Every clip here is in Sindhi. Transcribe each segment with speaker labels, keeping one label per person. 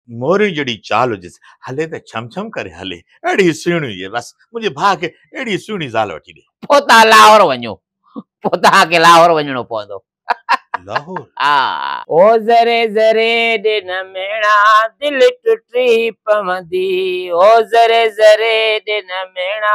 Speaker 1: موريء جهڙي چال جس، هلي ته ڇم ڇم ڪري هلي، اهڙي سهڻي هجي، بس منهنجي ڀاء کي اهڙي سهڻي زال وٺي ڏي. پوتا لاهور وڃو.
Speaker 2: پوتا کي لاهور وڃڻو پوندو. لاهور؟
Speaker 1: ها. او
Speaker 2: ذري ذري ڏن ميڻا دل ٽٽي پوندي، او ذري ذري ڏن ميڻا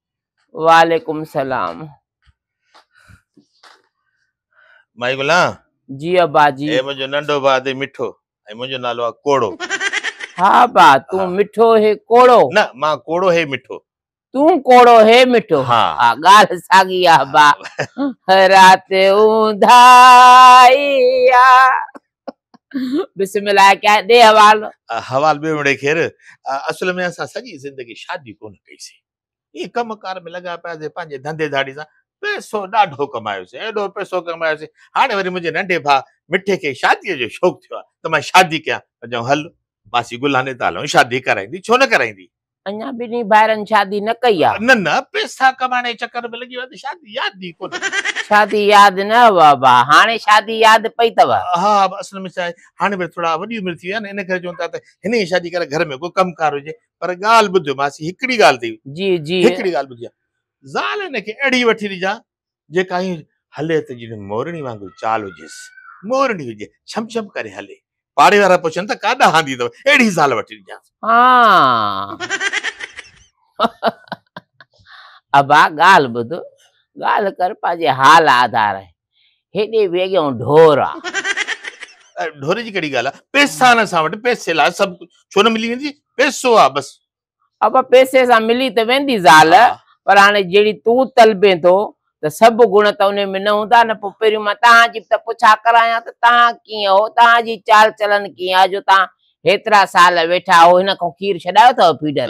Speaker 2: وعليڪم سلام
Speaker 1: مائي گلا جي ابا
Speaker 2: جي اي منجو ننڊو با دي
Speaker 1: مٺو اي منجو نالو آ ڪوڙو ها
Speaker 2: با تون مٺو هي ڪوڙو نه ما ڪوڙو هي
Speaker 1: مٺو تون ڪوڙو
Speaker 2: هي مٺو ها ها گال
Speaker 1: ساگي
Speaker 2: آ با رات اونداي آ بسم الله ڪيا ڏي حوالو حوال ٻيو مڙي
Speaker 1: خير اصل ۾ اسان سڄي زندگي شادي ڪونه ڪئي سي هي ڪم ڪار ۾ لڳا پيا سي پنهنجي ڌنڌي ڌاڙي سان پئسو ڏاڍو ڪمايو سي ايڏو پئسو ڪمايو سي هاڻي وري منهنجي ننڍي ڀاء مٺي کي شادي جو شوق ٿيو آ ته مان شادي ڪيان ته چيائون هل ماسي گلاني ته هلون شادي ڪرائيندي ڇو نه ڪرائيندي اڃا ٻنهي
Speaker 2: ڀائرن شادي نه ڪئي آ. نه نه پيسا
Speaker 1: ڪمائڻ جي چڪر ۾ لڳي ويا ته شادي ياد ئي ڪونه. شادي ياد
Speaker 2: نه هئا ابا هاڻي شادي ياد پئي ٿو. ها ابا اصل ۾ ڇا
Speaker 1: آهي هاڻي وري ٿورا وڏي عمر ٿي وئي آ نه ان ڪري چون ٿا ته هن ئي شادي ڪراء گهر ۾ ڪو ڪم ڪار هجي پر ڳالهه ٻڌ ماسي هڪڙي ڳالهه ٿي جي جي. هڪڙي ڳالهه
Speaker 2: ٻڌجان
Speaker 1: زال هن کي اهڙي وٺي ڏجان جيڪا ائين هلي ته ڄڻ مورڙي وانگر چال هجيس. مورڙي هجي، ڇم ڇم ڪري هلي. پاڙي وارا پڇن ته ڪا ڏاهندي اٿو، اهڙي زال وٺي ڏجانس.
Speaker 2: ابا ڳالهه ٻڌ، ڳالهه ڪر پنهنجي حال آڌار آهي. هيڏي ويڳهون ڍور آ.
Speaker 1: ڍور جي ڪهڙي ڳالهه آ، پئسا آهن اسان وٽ، پئسي لاء سڀ ڪجهه، ڇو نه ملي ويندي، پئسو آ بس. ابا پيسي
Speaker 2: سان ملي ته ويندي زال ها. پر هاڻي
Speaker 1: جهڙي
Speaker 2: تون طلبين ٿو ته سڀ گڻ ته انهي ۾ نه هوندا نه پوء پهريون مان توهان جي به ته پڇا ڪرايان ته توهان ڪيئن هو توهان جي چال چلن ڪيئن آهي جو توهان هيترا سال ويٺا آهو هن کان کير ڇڏايو اٿئو ڦيڊر.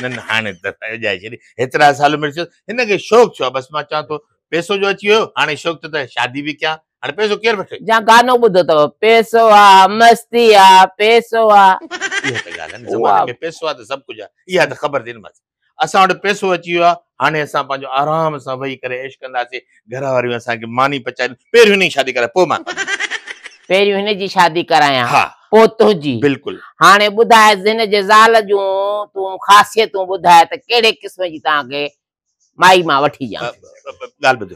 Speaker 2: نه نه هاڻي
Speaker 1: ته اجائي ڇڏي هيترا سال مڙس هن کي شوق ڇو آهي بس مان چوان ٿو پيسو جو اچي ويو هاڻي شوق ٿو ته شادي به ڪيان هاڻي پئسو ڪير وٺي؟ جا گانو ٻڌو تئو
Speaker 2: پئسو آ مستي آ پئسو آ. اها ته
Speaker 1: ڳالهه آهي نه زماني ۾ پئسو آهي ته سڀ ڪجهه آهي اها ته خبر ٿي نه مس اسان وٽ پئسو اچي ويو آهي هاڻي اسان پنهنجو آرام سان ويهي ڪري عيش ڪنداسين گهر واريون اسان کي ماني پچائين پهريون هن جي شادي ڪرائي پوء مان ڪندس. پهريون
Speaker 2: هن جي شادي ڪرايان ها پوء تنهنجي بلڪل. هاڻي
Speaker 1: ٻڌاء
Speaker 2: هن جي زال جون تون خاصيتون ٻڌاء ته ڪهڙي قسم جي توهان کي مائي مان وٺي ڄان ڳالهه ٻڌ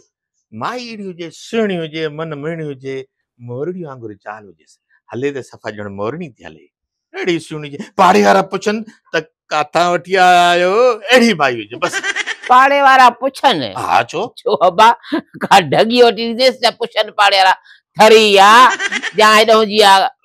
Speaker 1: مائي اهڙي هجي سهڻي هجي من مهڻي هجي مورڙي وانگر چال هجيس هلي ته صفا ڄڻ مورڙي ٿي هلي اهڙي سهڻي هجي پاڙي وارا پڇن ته ڪاٿان وٺي آيا آهيو اهڙي مائي هجي بس پاڙي وارا
Speaker 2: پڇن ها ڇو ڇو
Speaker 1: ابا
Speaker 2: ڪا ڍڳي وٺي ڏينديس ته پڇن پاڙي وارا ٿري آ جا هيڏانهن جي آ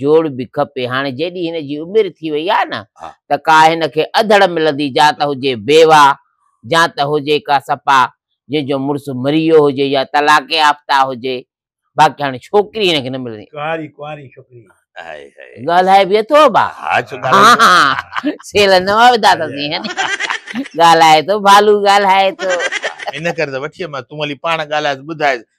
Speaker 2: جوڙ به کپي هاڻي جيڏي هن جي عمر ٿي وئي آ نه ته ڪا هن کي اڌڙ ملندي جا ته هجي بيوا جا ته هجي ڪا سپا جنهن جو مڙس مري ويو هجي يا طلاق يافته هجي باقي هاڻي ڇوڪري هن کي نه ملندي. ڪنواري ڪنواري ڇوڪري.
Speaker 3: ڳالهائي
Speaker 2: به اٿو با. ها سيل نه وڌا اٿسين هني ڳالهائي ٿو ڀالو ڳالهائي ٿو. ان ڪري ته
Speaker 1: وٺي آيم مان تون هلي پاڻ ڳالهائيس ٻڌائيس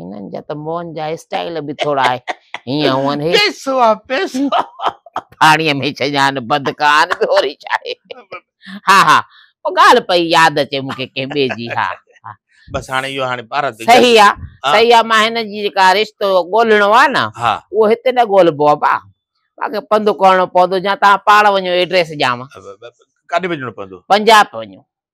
Speaker 3: هنن جا ته
Speaker 2: موهن جا اسٽائيل به ٿورا هيئن هونئن هي پيسو آ پيسو
Speaker 1: پاڻيء
Speaker 2: ۾ ڇڃان بند ڪان به هوري ڇا آهي ها ها او ڳالهه پئي ياد اچي مون کي ڪنهن ٻئي جي ها بس هاڻي اهو
Speaker 1: هاڻي بھارت جو صحيح آ ها.
Speaker 2: صحيح آ مان هن جي جيڪا رشتو ڳولهڻو آ نه ها اهو هتي نه ڳولهبو آ ڀا مونکي پنڌ ڪرڻو پوندو يا توهان پاڻ وڃو ايڊريس ڏيانو ڪاڏي وڃڻو
Speaker 1: پوندو پنجاب وڃو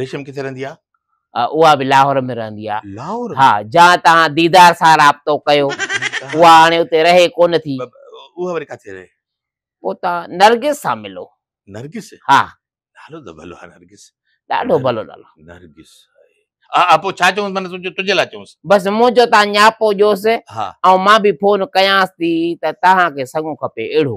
Speaker 1: ريشم ڪٿي رهندي آ؟ اها به
Speaker 2: لاهور ۾ رهندي آ. لاهور ها جا
Speaker 1: توهان
Speaker 2: ديدار سان رابطو ڪيو اها هاڻي اتي رهي ڪونه ٿي. اها وري ڪاٿي
Speaker 1: رهي؟ پوء توهان
Speaker 2: نرگس سان ملو. نرگس؟ ها.
Speaker 1: نالو
Speaker 2: ته ڀلو
Speaker 1: آ نرگس. ڏاڍو ڀلو نالو.
Speaker 2: نرگس
Speaker 1: هاء هاء پوء ڇا چونس معنيٰ تنهنجي لاء چونس. بس منهنجو تان
Speaker 2: نياپو ڏيوس ها. ۽ مان به
Speaker 1: فون
Speaker 2: ڪيانس ٿي ته توهان کي سڱو کپي اهڙو.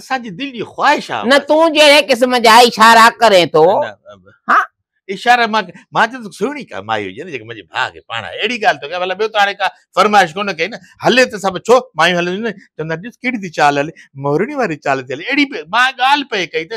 Speaker 2: اسان جي
Speaker 1: دل جي خواهش آ نه تون جهڙي قسم
Speaker 2: جا اشارا ڪرين ٿو ها اشارا مان
Speaker 1: مان چيو ته سهڻي ڪا مائي هجي نه جيڪا منهنجي ڀاء کي پاڻ اهڙي ڳالهه ٿو ڪيا ڀلا ٻيو ته هاڻي ڪا فرمائش ڪونه ڪئي نه هلي ته سڀ ڇو مايون هلنديون نه چوندا ڏس ڪهڙي ٿي چال هلي مورڙي واري چال ٿي هلي اهڙي پئي مان ڳالهه پئي ڪئي ته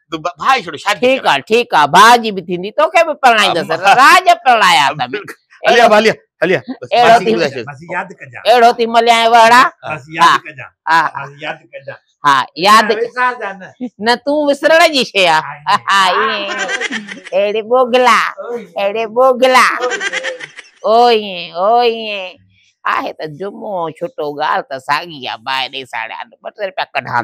Speaker 1: ڀاء جي ڇڏو شادي ٺيڪ آ ٺيڪ آ ڀاء
Speaker 2: جي به ٿيندي توکي به پرڻائيندس راڄ پرڻايا اٿم هليا ڀاء هليا هليا بس ياد ڪجان اهڙو ٿي مليان وهڙا بس ياد ڪجان ها بس ياد ڪجان ها ياد وسار جا نه نه تون وسرڻ جي شي آ ها اهڙي بوگلا اهڙي بوگلا او ائين او ائين آهي ته جمعو ڇٽو ڳالهه ته ساڳي آ باهه ڏي ساڙيا ٻه ٽي رپيا ڪڍان